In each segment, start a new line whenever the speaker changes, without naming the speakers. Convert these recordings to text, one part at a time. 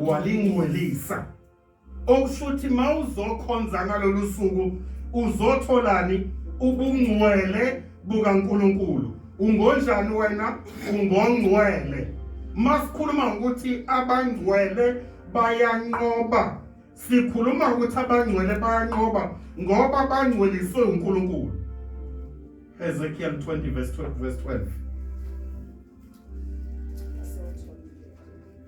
walingcwelisa okusho ukuthi uma uzokhonza ngalolu suku uzotholani ubungcwele bukaNkulunkulu ungonjani wena ungongcwele masikhuluma ngokuthi abangcwele bayanqoba sikhuluma ukuthi abangcwele bayanqoba ngoba bangcweliswe uNkulunkulu Ezekiel 20 verse 12 verse 12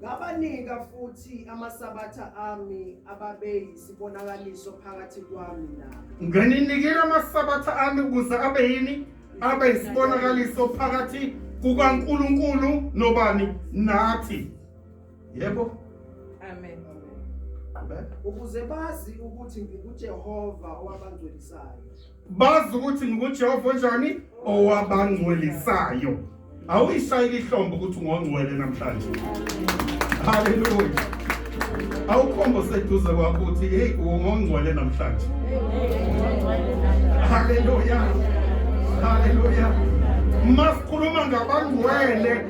Ngabanika futhi amasabatha ami ababe yisibonakaliso phakathi kwami nabo. Ngininikile
amasabatha ami ukuze abe yini? Abe yisibonakaliso phakathi kukaNkulunkulu nobani? Nathi. Yebo. Amen.
Ukuze bazi ukuthi ngikuJehova owabangcwelisayo. bazi
ukuthi ngikujehova onjani owabangcwelisayo awuyishayile ihlombe ukuthi ungongcwele namhlanje haleluya awukhombo seduze kwakho ukuthi heyi ungongcwele namhlanje haleluya haleluya masikhuluma ngabangcwele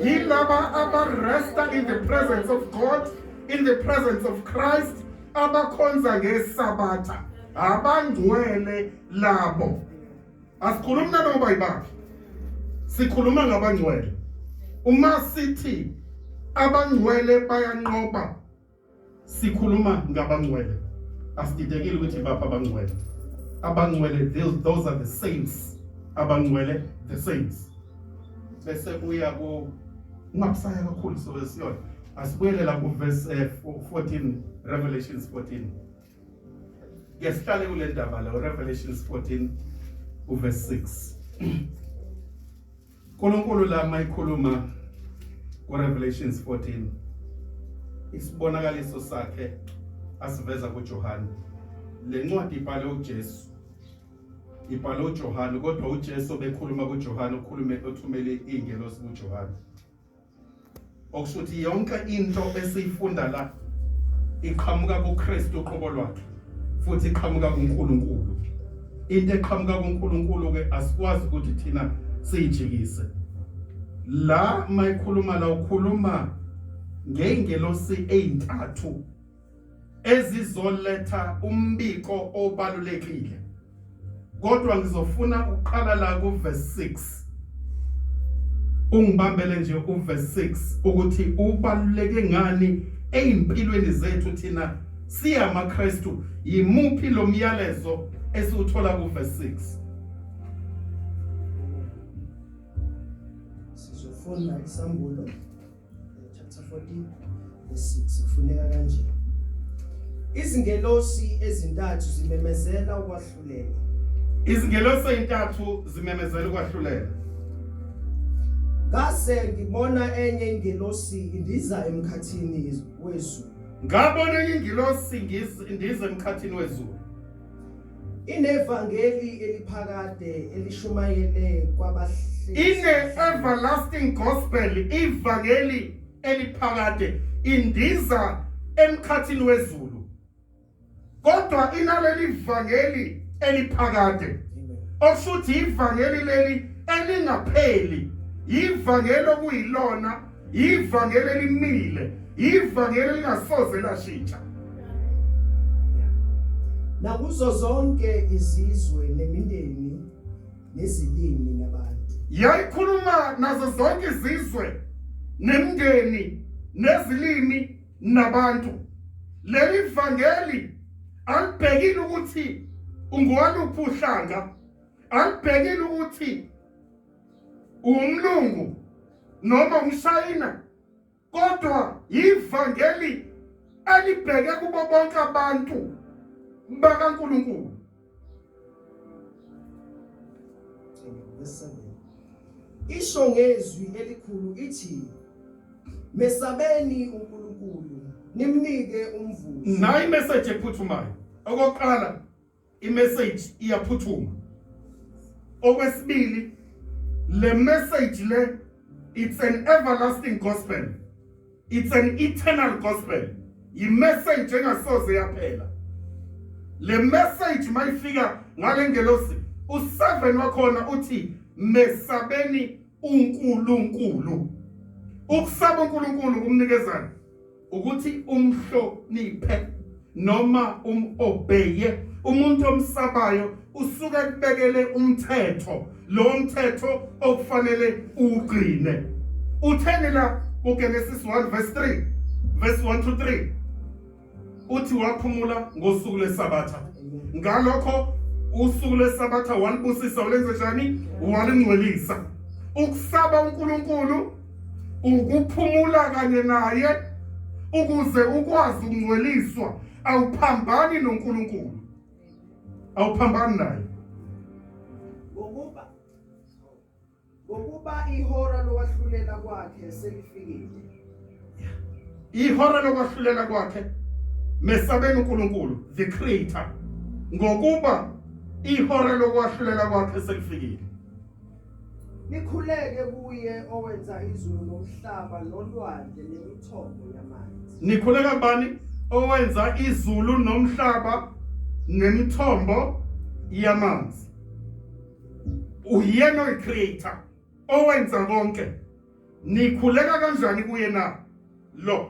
yilaba abaresta in the presence of god in the presence of christ abakhonza ngesabatha abangcwele labo asikhulumi nanoba yibaphi sikhuluma ngabangcwele uma sithi abangcwele bayanqoba sikhuluma ngabangcwele asididekile ukuthi baphi abangcwele abangcwele those are the saints abangcwele the saints bese kuya ku ungabusaya kakhulu sobe siyona asibuyele la ku verse 14 eh, revelations 14 Ngesihlale kule ndaba la Revelations 14 uverse 6. uNkulunkulu la mayikhuluma ku Revelations 14 isibonakaliso sakhe asiveza kuJohane. Lencwadi ibhalwe uJesu. Ibhalwe uJohane kodwa uJesu bekhuluma kuJohane ukhulume othumele ingelosi kuJohane. okusuthi yonke into esiyifunda la iqhamuka kuKristu uqobo lwakhe futhi iqhamuka kuNkulunkulu into eqhamuka kuNkulunkulu ke asikwazi ukuthi thina siyijikise la mayikhuluma la ukhuluma ngeengelosi ezintathu ezizoletha umbiko obalulekile kodwa ngizofuna ukuqala la ku verse 6 ungibambele nje ku verse 6 ukuthi ubaluleke ngani ezimpilweni zethu thina siya maKristu yimuphi lo myalezo esiwuthola ku verse 6 sizofunda
isambulo chapter 14 verse 6 ufuneka kanje izingelosi ezintathu zimemezela ukwahlulela izingelosi
ezintathu zimemezela ukwahlulela
ngase ngibona enye ingelosi indiza emkhathini wezulu ngabona enye
ingelosi indiza emkhathini wezulu
Inevangeli eliphakade elishumayele kwabahlezi. Ine
everlasting gospel ivangeli eliphakade indiza emkhathini wezulu. Kodwa inaleli vangeli eliphakade. Okushuthi ivangeli leli elingapheli. Ivangeli okuyilona Ivangeli elimile, ivangeli elingasoze lashintsha.
Nakuzo zonke izizwe nemindeni nezilimi nabantu. Yayikhuluma
nazo zonke izizwe nemindeni nezilimi nabantu. Leli vangeli alibhekile ukuthi ungowaluphi uhlanga, alibhekile ukuthi umlungu noma umsayina kodwa yivangeli elibheke kubo bonke abantu bakaNkulunkulu
isho ngezwi elikhulu ithi mesabeni uNkulunkulu nimnike umvuzo nayi
message ephuthumayo okokuqala imessage iyaphuthuma okwesibili le message le it's an everlasting gospel it's an eternal gospel yimessage engasoze yaphela le message mayifika ngale ngelosi u7 wakhona uthi mesabeni uNkulunkulu ukusaba uNkulunkulu kumnikezana ukuthi umhloniphe noma umobheye umuntu omsabayo usuke kubekele umthetho lo mthetho okufanele ugcine utheni la kuGenesis 1 verse 3 verse 1 to 3 uthi waphumula ngosuku lesabatha ngalokho usuku lesabatha walibusisa walenze njani walingcwelisa ukusaba uNkulunkulu ukuphumula kanye naye ukuze ukwazi ukungcweliswa awuphambani noNkulunkulu awuphambani naye ngokuba ngokuba
ihora lokwahlulela kwakhe selifikile
ihora lokwahlulela kwakhe mesabeni uNkulunkulu the creator ngokuba ihora lokwahlulela kwakhe selifikile
Nikhuleke kuye
owenza izulu nomhlaba nolwandle nemithombo yamanzi. Nikhuleka kubani? Owenza izulu nomhlaba nemithombo yamanzi. Uyena oyicreator owenza konke. Nikhuleka kanjani kuye na? Lo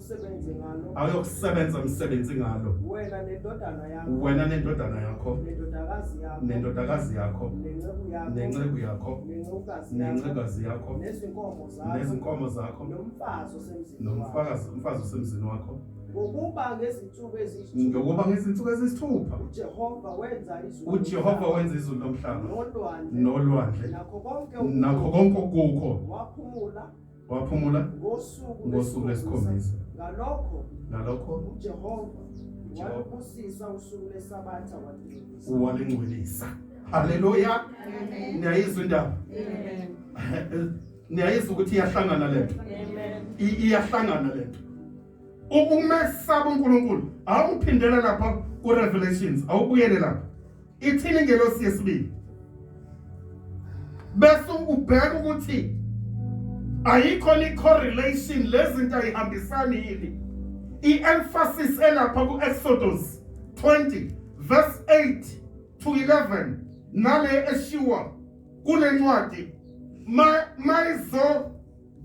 Usebenze ngalo. Ayokusebenza umsebenzi
ngalo. Wena nendodana
yakho. Wena nendodana yakho.
Nendodakazi yakho.
Nendodakazi yakho.
Nenceku yakho. Nenceku
yakho.
Nenceku nencekazi yakho nezinkomo zakho
nezinkomo zakho
nomfazi osemzini
nomfazi umfazi
osemzini wakho ngokuba
ngezinsuku eziyisithupha ngokuba ngezinsuku
eziyisithupha uJehova wenza
izulu uJehova wenza izulu
nomhlaba nolwandle nolwandle nakho konke nakho konke okuko waphumula waphumula ngosuku ngosuku lwesikhombisa ngalokho ngalokho ujehova
Jehova. walibusisa usuku lesabatha walingcwelisa walingcwelisa
haleluya niyayizwa indaba niyayizwa ukuthi iyahlangana le nto I- iyahlangana le nto U- umesaba unkulunkulu awuphindele lapha kurevelations awubuyele lapha Ithini ingelosi yesibili? Bese ubheka ukuthi ayikho ni correlation lezinto ayihambisani yini. I-emphasis elapha ku-Exodus 20 verse 8 to 11 nale eshiwa kule ncwadi mayizo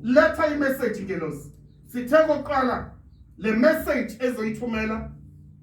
letha imessage ngelosi sithe kokuqala le message ezoyithumela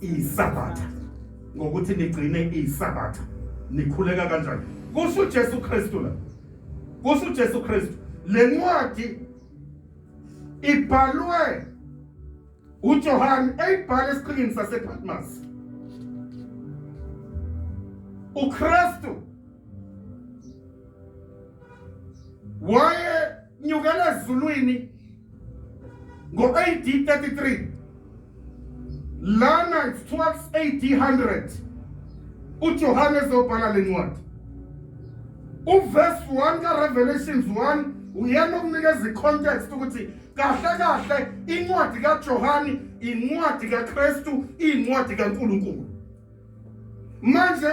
isabatha ngokuthi nigcine isabatha nikhuleka kanjani kusho uJesu Kristu la kusho uJesu Kristu lencwadi ibhalwe uJohane eyibhala esiqhingini sasePatmos uKristu waye nyukela ezulwini Ngo-AD 33 lana it's towards AD 100 uJohannes obhala le ncwadi uverse 1 kaRevelations 1 uyena okunikeza icontext ukuthi kahle kahle incwadi kaJohane incwadi kaKristu incwadi kaNkulunkulu manje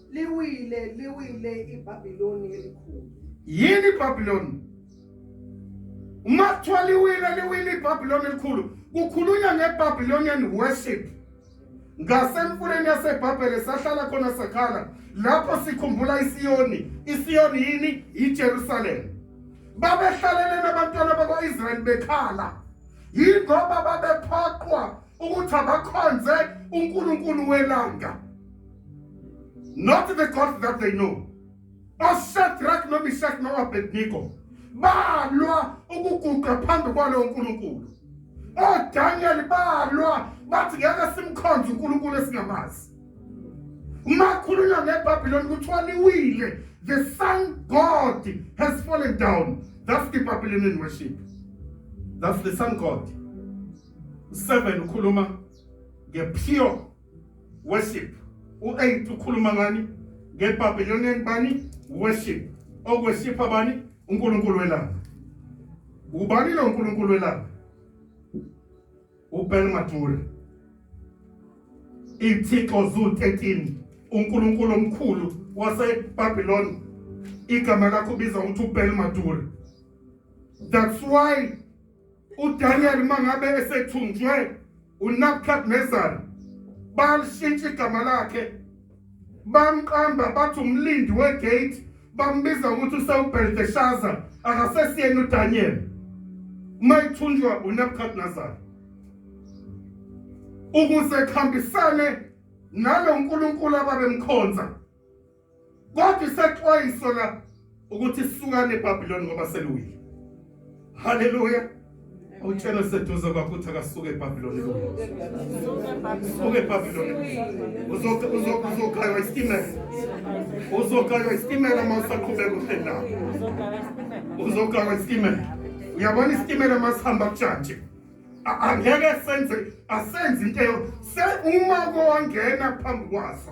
Liwile, liwile iBabiloni elikhulu. Yini
iBabiloni? Uma kuthiwa liwile, liwile iBabiloni elikhulu, kukhulunywa ngeBabylonian worship. Ngasemfuleni yaseBhabhele sahlala khona sakhala lapho sikhumbula iSiyoni. iSiyoni yini? YiJerusalem. Babehlalelene abantwana bakwa-Israyeli bekhala. Yingoba babephoqwa ukuthi abakhonze uNkulunkulu welanga. not the God that they know oShadrach noMeshach noAbednego balwa ukuguqa phambi kwalowo nkulunkulu oDaniel balwa bathi ngeke simkhonze unkulunkulu esingamazi makhulunywa ngebhabhiloni kuthiwa liwile the sun god has fallen down that's the babylonian worship that's the sun god 7 ukhuluma ngepure worship u-8 ukhuluma ngani ngebabylonian bani worship okwesipha bani unkulunkulu welanga ubani lo nkulunkulu welanga ubel mature ithixo zu 13 unkulunkulu omkhulu wasebabylon igama lakho ubiza ukuthi ubel mature that's why uDaniel mangabe esethunjwe uNabukadnezar balishintsha igama lakhe bamqamba bathi umlindi wegate bambiza ukuthi usewubheldeshaza akasesiyena uDaniel uma ethunjwa uNabukadnezar ukuze kuhambisane nalo nkulunkulu ababemkhonza Kodwa isexwayiso la ukuthi sukane eBabiloni ngoba seluwile. Haleluya. Utshela seduze kwakho uthi akasuke eBabiloni lo. Suke eBabiloni. Uzoke uzoke uzokhaywa isitimela. Uzokhaywa isitimela uma usaqhubeka uhleli la. Uzokhaywa isitimela. Uyabona isitimela uma sihamba kujantshi. Angeke senze asenze into eyo se uma kongena phambi kwaso.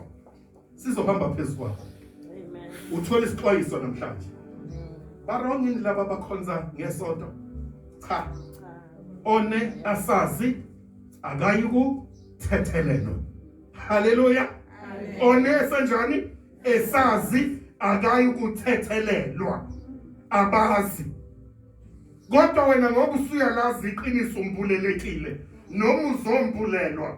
sizohamba phezu kwakho uthole isixwayiso namhlanje barong yini laba abakhonza ngesonto cha one asazi akayi kuthethelelwa haleluya one esenjani esazi akayi kuthethelelwa abazi kodwa wena ngoba usuyalazi iqiniso umbulelekile noma uzombulelwa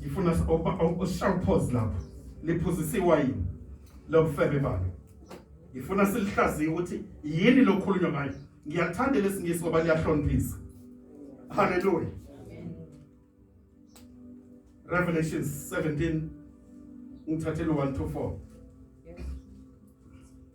ngifuna usharpos lapho liphuzisa iwayini lobufebe balo ngifuna silihlaziye ukuthi yini lokhulunywa ngayo ngiyakuthanda lesingisi ngoba liyahloniphisa haleluya revelation 17 ngithathele 1 to 4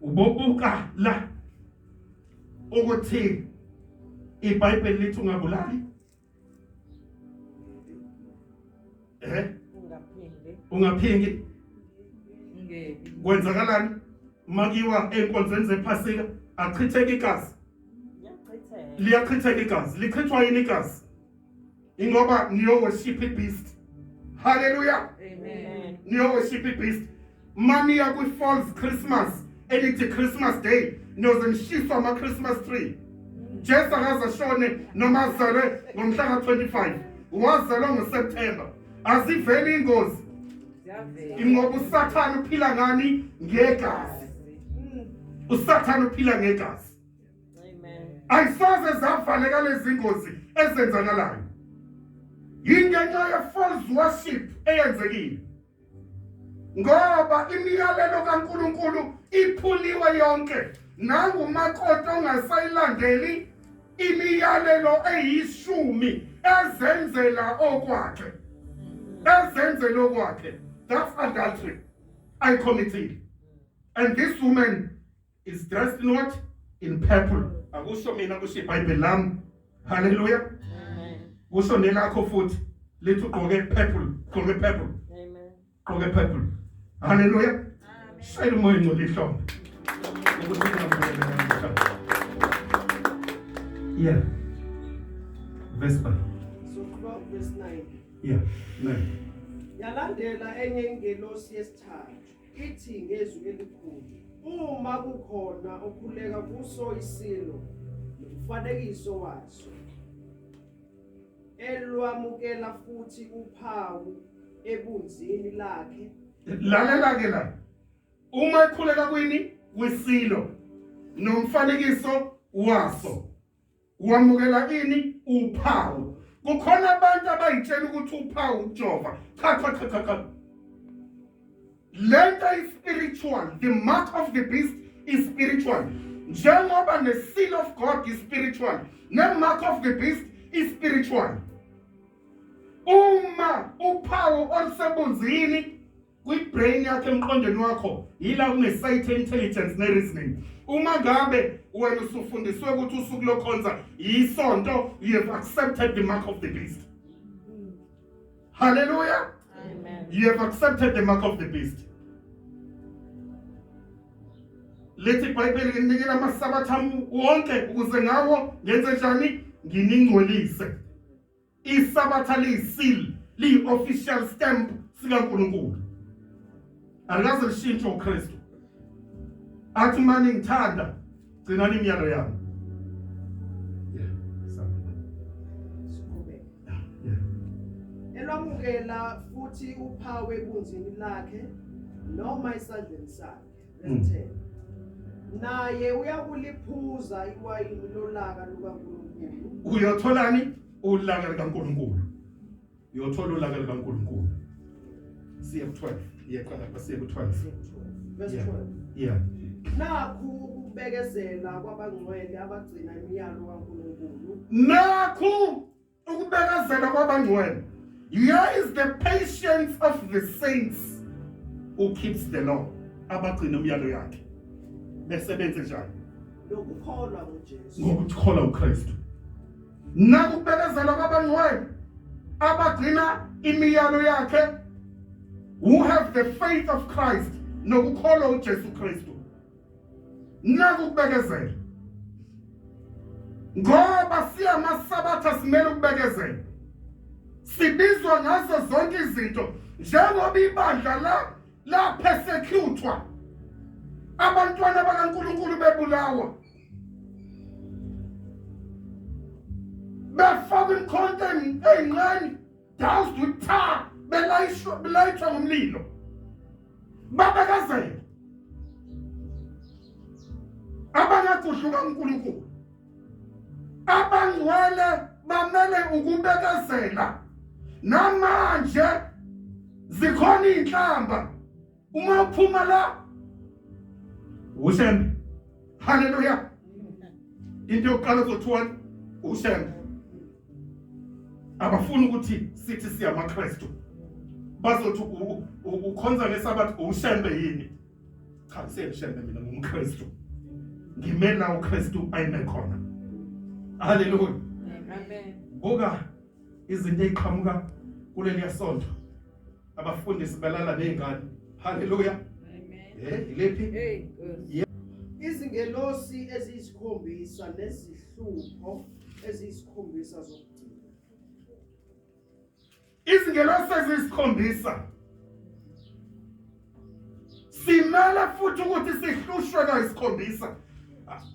Ubobuka la ukuthi iBhayibheli lithi ungabulali. Eh? Ungaphingi. Ungaphingi. Ngebi. Kwenzakalani? Makiwa enkonzweni zephasika achitheka igazi. Liyachitheka igazi. Lichithwa yini igazi? ingoba niyoworship ibeast haleluya amen
niyoworship ibeast
maniya kwi-false christmas elithi christmas day niyoze nishiswa ama-christmas tree jesu akaze ashone noma azelwe ngomhla ka-25 wazelwa ngoseptemba aziveli ingozi ingoba usathane uphila ngani ngegazi usathane uphila ngegazi
ayisoze
zavaleka lezi ngozi ezenzakalayo yingenxa ye-false worship eyenzekile ngoba imiyalelo kaNkuluNkulu iphuliwe yonke nangumakoti ongasayilandeli imiyalelo eyishumi ezenzela okwakhe ezenzela okwakhe that's adultery ayikhomithile and this woman is dressed in what in purple akusho mina kusho ibhayibheli lami haleluya
kusho nelakho
futhi lithi ugqoke purple gqoke purple gqoke
purple
haleluya shayela umoya ngcwele ihlombe yeah verse 5 so 12 verse 9 yeah 9 yalandela
enye ingelosi yesithathu ithi ngezwi elikhulu uma kukhona okhuleka kuso isilo nomfanekiso waso elwamukela futhi uphawu ebunzini lakhe lalela ke
la uma ekhuleka kwini kwisilo nomfanekiso waso Wamukela ini uphawu. Kukhona abantu abayitshela ukuthi uphawu ujova. Cha cha cha cha cha. Lento is spiritual. The mark of the beast is spiritual. Njengoba ne seal of God is spiritual. Ne mark of the beast is spiritual. Uma uphawu olusebunzini kwi-brain yakho emqondweni wakho yila kune-site intelligence ne-reasoning uma ngabe wena usufundiswe ukuthi usuku lokhonza yisonto you have accepted the mark of the beast halleluya you have
accepted
the mark of the beast lethi ibhayibheli nginikela amasabatha wonke ukuze ngawo ngenze njani nginingcolise isabatha liyisil liyi-official stamp sikankulunkulu alikaze lishintshe ukristu athi mani ngithanda gcinani imiyalo yami
elwamukela futhi uphawu ebunzini lakhe noma esandleni sakhe Listen. Naye uyakuliphuza iwayini lolaka lukaNkulunkulu. Uyotholani?
Ulaka likaNkulunkulu. Uyothola ulaka likaNkulunkulu. Siye ku-12. Iyeqala lapha siye ku-12. Verse 12.
Yeah.
Nakhu
ukubekezela kwabangcwele abagcina imiyalo kaNkulunkulu. Nakhu
ukubekezela kwabangcwele here is the patience of the saints who keeps the law abagcina umyalo yakhe besebenze njani lokukholwa
uJesu ngokukholwa uKristu
nakubekezela kwabangcwele abagcina imiyalo yakhe who have the faith of Christ nokukholwa uJesu Kristu naku ukubekezela ngoba siyamasabatha simele ukubekezela sibizwa ngazo zonke izinto njengoba ibandla la laphesecuthwa abantwana bakaNkulunkulu bebulawa befaka imkhonto eyincane Dance to tha belayishwa belayishwa ngomlilo. Babekazela. Abangakuhluka uNkulunkulu. Abangcwele bamele ukubekezela. Namanje zikhona inhlamba uma uphuma la usembe haleluya into yokuqala zothiwani usembe abafuni ukuthi sithi siyamakristu bazothi ukhonza ngesabathi usembe yini cha siyemshembe mina ngumkristu ngimela ukristu ayime khona haleluya amen
buka
izinto eziqhamuka kuleli yasonto abafundisi balala nezingane haleluya eh
ilephi izingelosi
eziyisikhombisa nezihlupho eziyisikhombisa zokugcina
izingelosi eziyisikhombisa simele futhi ukuthi sihlushwe kayisikhombisa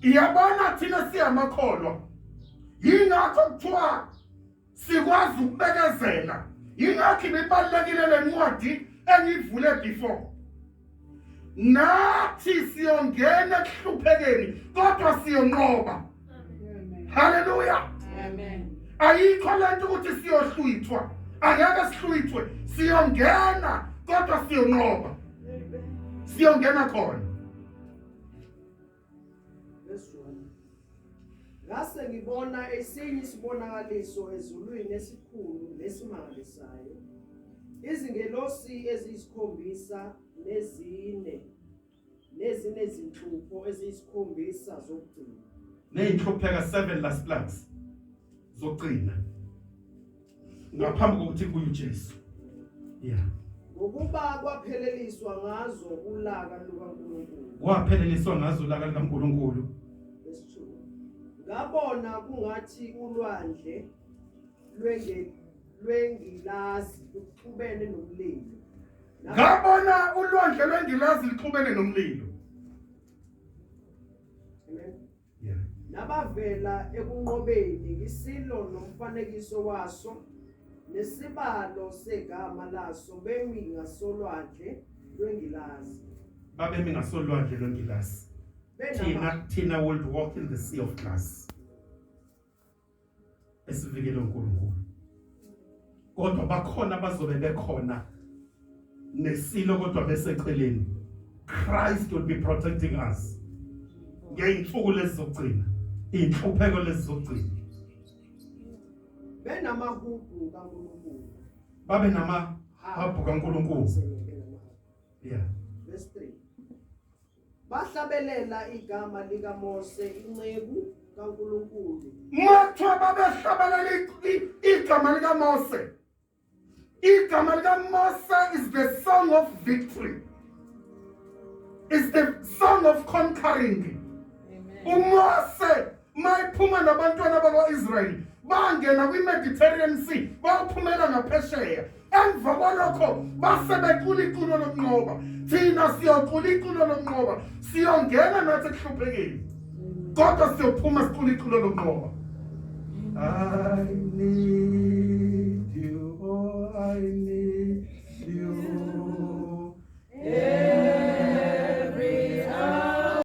iyabona thina siyamakholwa yingakho kuthiwa Sikwazi ukubekezela. Yingakho ibibalekile lencwadi engivule before. Nathi siyongena ekuhluphekeni kodwa siyonqoba. Hallelujah.
Amen. Ayikho lento
ukuthi siyohlwithwa. Angeke sihlwithwe. Siyongena kodwa siyonqoba. Siyongena khona. Verse 1.
Ngase ngibona esinye isibonakaliso ezulwini esikhulu nesimangalisayo. Izingelosi eziyisikhombisa nezine nezine zinhlupho eziyisikhombisa zokugcina. Neyinhlupheka
7 last plans zokugcina. ngaphambi kokuthi kuye uJesu yeah ngokuba
kwapheleliswa ngazo ulaka lukaNkulunkulu kwapheleliswa ngazo
ulaka lukaNkulunkulu
ngabona kungathi ulwandle lwenge lwengilazi luxubene nomlilo ngabona
ulwandle lwengilazi luxubene nomlilo nabavela
ekunqobeni ngisilo nomfanekiso waso nesibalo segama laso bemi ngasolwandle lwengilazi babemi
ngasolwandle lwengilazi thina thina would walk in the sea of glass esivikelwe uNkulunkulu kodwa bakhona bazobe bekhona nesilo kodwa beseceleni Christ will be protecting us ngeyinsuku lezizogcina inhlupheko lezizogcina
benamahubhu kaNkulunkulu babe nama
habhu kaNkulunkulu yeah verse
3 Bahlabelela igama likaMose inceku kaNkulunkulu. Mathiwa
babehlabelela igama likaMose. Igama likaMose is the song of victory. Is the song of conquering. UMose mayiphuma nabantwana bakwa-israyeli bangena kwi-mediterranean sea bayophumela ngaphesheya emva kwalokho base becula iculo lokunqoba thina siyocula iculo lokunqoba siyongena nathi ekuhluphekeni kodwa siyophuma sicula iculo lokunqoba I need you, oh, I need you. Yeah.